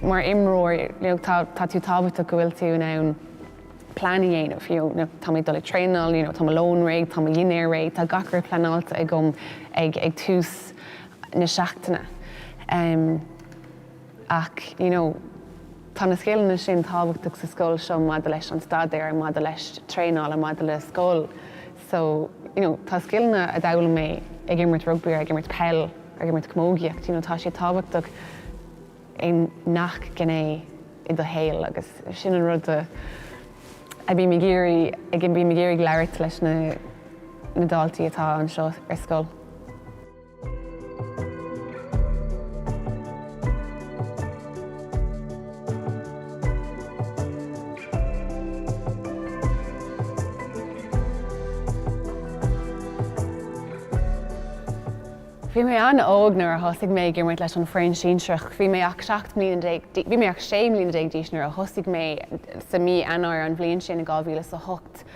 Mar imreoir, tá tú tábhachtach go bhfuil tú in ann plean a dhéanamh, you know tá mé ag dul i dtraenáil, you know tá mo lón réidh, tá mo dhinnéar réidh, tá gach rud pleanáilte agam ag tús na seachtaine. Ach, you know, tá na scileanna sin tábhachtach sa scoil seo maidir leis an staidéar, maidir le traenáil and maidir le scoil. So, you know, tá scileanna a d'fhoghlaim mé ag imirt rugbaí or ag imirt peil or ag imirt camógaíocht, you know, tá siad tábhachtach i ngach gné i do shaol agus sin an rud a a bím ag iarraidh labhairt leis na na daltaí atá anseo ar scoil. Bhí mé an-óg nuair a thosaigh mé ag imirt leis an foireann sinsearach. Bhí mé ach sé mbliana déag d'aois nuair a thosaigh mé sa mí Eanáir an bhliain sin, 2008.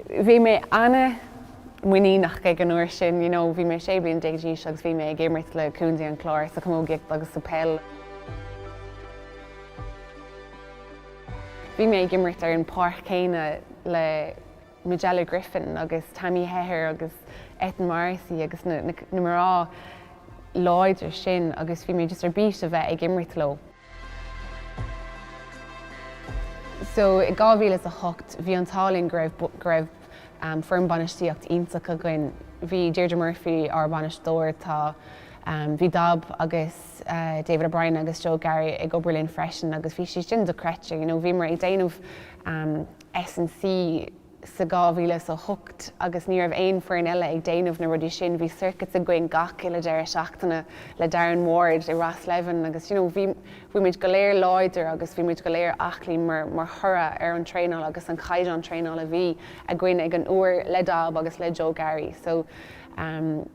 bhí mé ana-mhuiníneach ag an uair sin, you know bhí mé sé bliana déag agus bhí mé ag imirt le Contae an Chláir sa chamógaíocht agus sa peil. Bhí mé ag imirt ar an pháirc chéanna le Majella Griffin agus Tammy Hehir agus Eithne Morrissey agus na mná láidre sin agus bhí mé just ar bís a bheith ag imirt leo. So i 2008 bhí an t-ádh linn go raibh, go raibh ehm foireann bainistíocht iontach againn. Bhí Deirdre Murphy ár bainisteoir, tá ehm, bhí Dab agus eh David O'Brien agus Joe Garry ag obair linn freisin agus bhí siad sin dochreidte, you know, bhíomar ag déanamh ehm S and C, sa 2008 agus ní raibh aon foireann eile ag déanamh na rudaí sin. Bhí circuits againn gach uile deireadh seachtaine le Darren Ward i Ros Leamhain agus you know bhí, bhí muid go léir láidir agus bhí muid go léir aclaí mar, mar thoradh ar an traenáil agus an caighdeán traenáil a bhí againn ag an uair le Dab agus le Joe Garry so ehm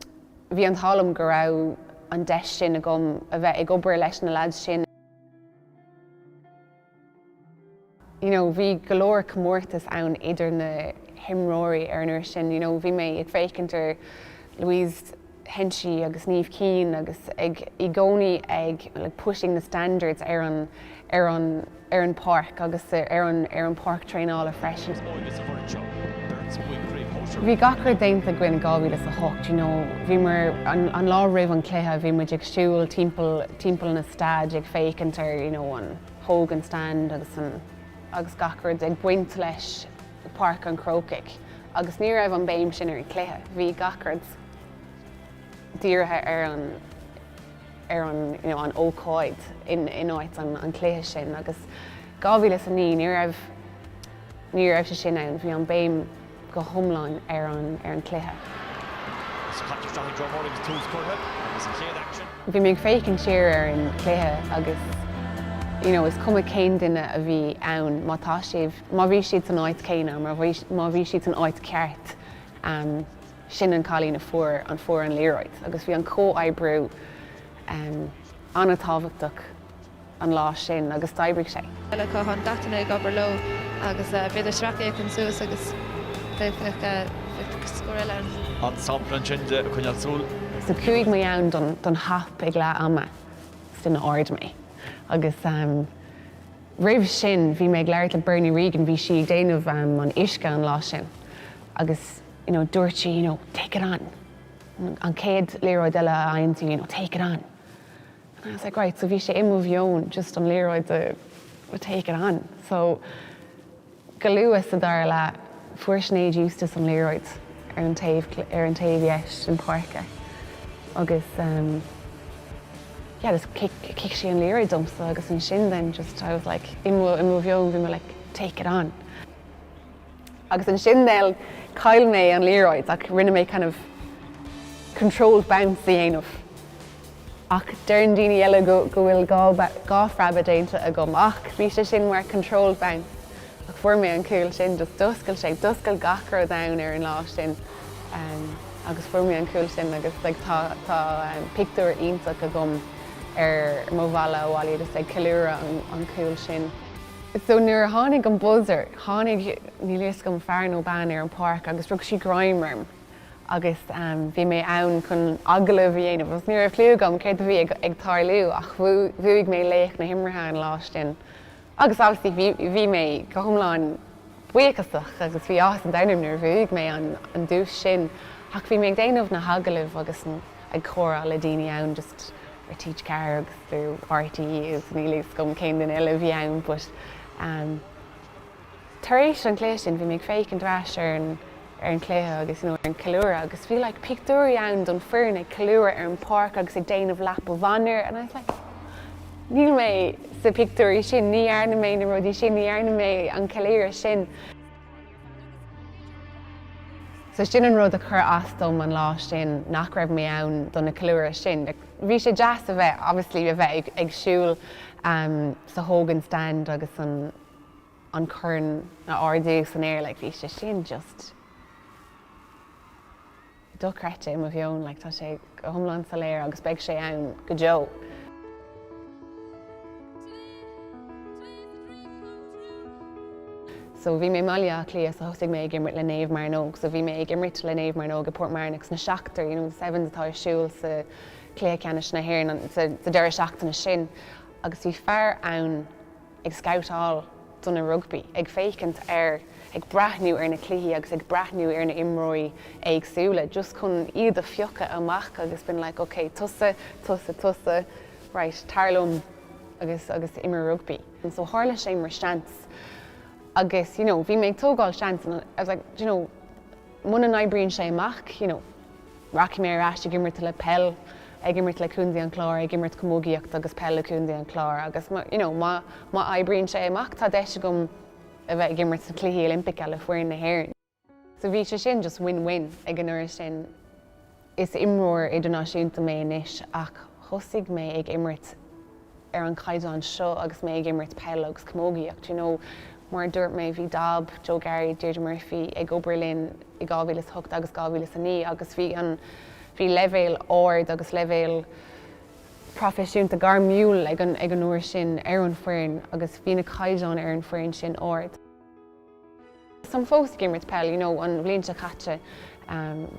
bhí an t-ádh liom go raibh an deis sin agam a bheith ag obair leis na lads sin. you know bhí go leor comórtas ann idir na himreoirí ar an uair sin you know bhí mé ag féachaint ar Louise Henchy agus Niamh Keane agus ag i gcónaí ag like pushing the standards ar an ar an ar an pháirc agus ar an ar an pháirc traenála freisin. Bhí gach rud déanta againn i 2008 you know bhíomar an an lá roimh an cluiche bhí muid ag siúl timpeall timpeall na staide ag féachaint ar you know an Hogan Stand agus an agus gach rud ag baint leis Páirc an Chrócaigh agus ní raibh an béim sin ar an chluiche, bhí gach rud dírithe ar an ar an you know an ócáid in in áit an an chluiche sin agus 2009 ní raibh ní raibh sé sin ann, bhí an béim go hiomlán ar an chluiche. Is caite isteach ag Joe Murray agus tús curtha leis an chéad aicsean. Bhí mé ag féachaint siar ar an chluiche agus you know is cuma cén duine a bhí ann má tá sibh, má bhí siad san áit céanna, má bhí siad san áit ceart, sin an cailín a fuair an fuair an liathróid agus bhí an comhoibriú an-tábhachtach. an lá sin agus d'oibrigh sé. Chuala Cohán Dotain ag obair leo agus b'fhéidir sracfhéachaint suas agus d'fhéach scór eile ar. an sampla ansin de ag coinneáil súl. So chuaigh mé ann don hop ag leath ama is duine ard mé agus roimh sin bhí mé ag labhairt le Bernie Regan, bhí sí ag déanamh an uisce an lá sin agus you know dúirt sí you know take it on, an chéad liathróid eile a fhaigheann tú you know take it on. I was like, right, so bhí sé i mo mheon just an liathróid do to take it on. So go luath sa dara leath, fuair Sinéad Eustace an liathróid ar an taobh ar an taobh dheis den páirc agus yeah, just kick, kick sí an liathróid domsa agus ansin then just I was like, i mo, i mo mheon bhí me like, take it on. Agus ansin, then, chaill mé an liathróid ach rinne mé kind of controlled bounce a dhéanamh. Ach deireann daoine eile go bhfuil dhá phreabadh déanta agam ach bhí sé sin mar controlled bounce ach fuair mé an cúl sin, just d'oscail sé, d'oscail gach rud dom ar an lá sin agus fuair mé an cúl sin agus like tá pictiúr iontach agam ar mo bhalla abhaile just ag ceiliúradh an cúl sin. So nuair a tháinig an buzzer, tháinig, níl a fhios agam, fear nó bean ar an bpáirc agus rug sí greim orm agus bhí mé ann chun agallamh a dhéanamh agus ní raibh cliú agam céard a bhí ag tarlú ach bhuaigh mé laoch na himeartha an lá sin agus obviously bhí, bhí mé go hiomlán buíochasach agus bhí áthas an domhain orm nuair a bhuaigh mé an, an duais sin ach bhí mé ag déanamh na hagallamh agus ag comhrá le daoine ann just. TG4 agus do RTÉ is níl a fhios agam cén duine eile a bhí ann but tar éis an cluiche sin bhí mé ag féachaint ar ais ar an ar an cluiche agus nó ar an ceiliúradh agus bhí like pictiúirí ann don foireann ag ceiliúradh ar an páirc agus ag déanamh lap of honour and I was like níl mé sa pictiúirí sin ní dhearna mé na rudaí sin ní dhearna mé an ceiliúradh sin So sin an rud a chur as dom an lá sin, nach raibh mé ann do na ceiliúrtha sin. Bhí sé deas a bheith, obviously, a bheith ag, ag siúl um sa Hogan Stand agus an, an corn a ardú san aer, like, bhí sé sin just, dochreidte i mo mheon, like tá sé go hiomlán soiléir agus beidh sé ann go deo. So bhí mé i mBaile Átha Cliath so thosaigh mé ag imirt le Naomh Mearnóg so bhí mé ag imirt le Naomh Mearnóg i Port Mearnock sna seachtar, you know the sevens atá ar siúl sa cluiche ceannais na hÉireann sa deireadh seachtaine sin agus bhí fear ann ag scabhtáil do na rugbaí, ag féachaint ar, ag breathnú ar na cluichí agus ag breathnú ar na imreoirí éagsúla just chun iad a phiocadh amach agus been like ok tusa, tusa, tusa right tar liom agus, agus imir rugbaí. And so tharla sé mar seans agus you know bhí mé ag tógáil seans and I was like do you know, muna n-oibríonn sé amach, you know, rachaidh mé ar ais ag imirt le peil, ag imirt le Contae an Chláir, ag imirt camógaíocht agus peil le Contae an Chláir agus má, you know, má, má oibríonn sé amach, tá deis agam a bheith ag imirt sna Cluichí Oilimpeacha le foireann na hÉireann. So bhí sé sin just win-win ag an uair sin. Is imreoir idirnáisiúnta mé anois ach thosaigh mé ag imirt ar an caighdeán seo agus mé ag imirt peil agus camógaíocht. You know, mar a dúirt mé, bhí Dab, Joe Garry, Deirdre Murphy ag obair linn i 2008 agus 2009 agus bhí an, bhí leibhéal ard agus leibhéal proifisiúnta, gairmiúil ag an uair sin ar an foireann agus bhí na caighdeáin ar an foireann sin ard. táim fós ag imirt peil you know an bhliain seo caite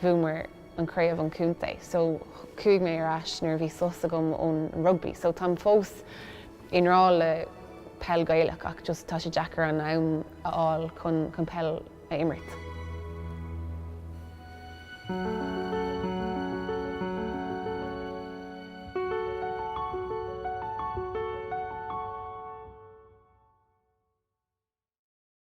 bhuamar an craobh an contae so chuaigh mé ar ais nuair a bhí sos agam ón rugbaí so táim fós i ngrá le peil gaelach ach just tá sé deacair an am a fháil chun chun peil a imirt.